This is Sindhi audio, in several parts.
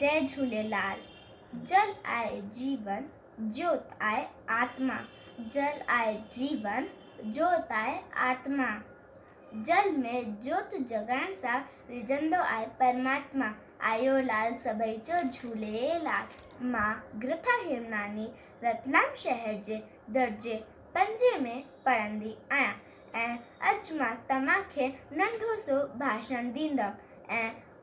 جئه جهوليلال جل آء جيون جيوت آء آتما جل آء جيون جيوت آء آتما جل ۾ جيوت جڳائڻ سان رجندو آء پرماتما آيو لال سڀئي چئه جهوليلال مان گرٿا هيمناني رتلام شهر جي درجي پنجين ۾ پڙهندي آهيان ۽ اڄ مان توهان کي ننڍو سو ڀاشڻ ڏيندم ۽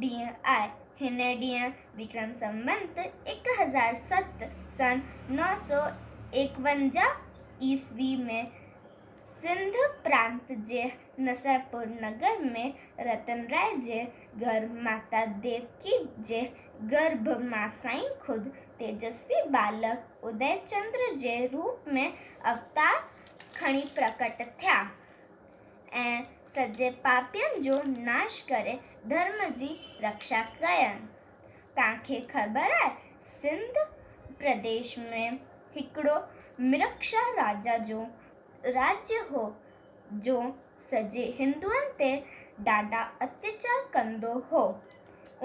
ڏينهن آهي. هن ڏينهن وڪرم سنوت ايڪ هزار ست سن نو سؤ ايڪونجاهه عيسوي ۾ سنڌ پرانت جي نصرپور نگر ۾ رتنراء جي گهر ماتا ديوڪي جي گرڀ مان سائين خود تيجسوي ٻالڪ ادئي چندر جي روپ ۾ اوتار کڻي پرڪٽ ٿيا. ۽ سڄي پاپين جو ناش ڪري ڌرم جي رڪشا ڪين. توهان کي خبر آهي سنڌ پرديش ۾ هڪڙو مرڪشا راجا جو راڄ هو جو سڄي هندوئن تي ڏاڍا اتياچار ڪندو هو.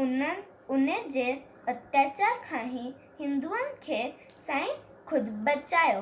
ان جي اتياچار کان هي هندوئن کي سائين خود بچايو.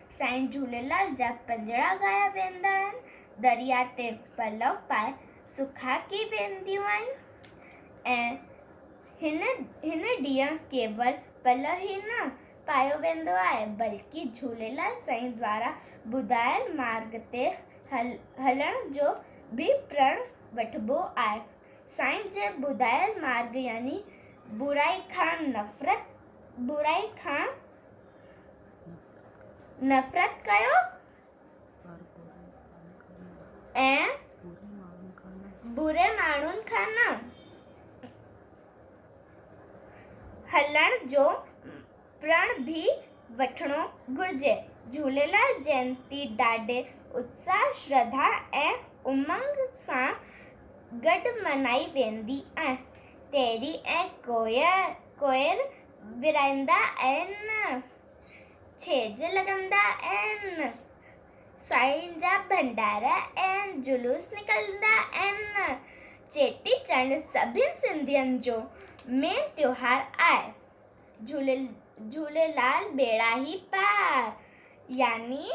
سائين جهوليلال جا پنجڙا ڳايا ويندا آهن، درياء تي پلو پائي سکاڪي وينديون آهن ۽ هن هن ڏينهن ڪيول پلو ئي نه پايو ويندو آهي بلڪه جهوليلال سائين دوارا ٻڌايل مارگ تي هل هلڻ جو به پرڻ وٺبو آهي. سائين جي ٻڌايل مارگ يعني برائي کان نفرت، برائي کان. نفرت ڪيو ۽ بري ماڻهن کان نه هلڻ جو پرڻ به وٺڻو گهرجي. جهوليلال جينتي ڏاڍي اتساهه، شرڌا ۽ امنگ سان گڏ منائي ويندي آهي. تيري ۽ ڪوئر ورائيندا آهن، ڇيڄ لڳندا آهن، سائين جا ڀنڊارا ۽ جلوس نڪرندا آهن. چيٽي چنڊ سڀني سنڌين جو مين تيوهار آهي. جهوليلال ٻيڙا هي پار يعني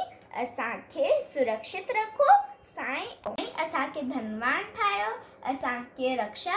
اسان کي سرڪشت رکو سائين ۽ اسان کي ڌنوان ٺاهيو اسان کي رڪشا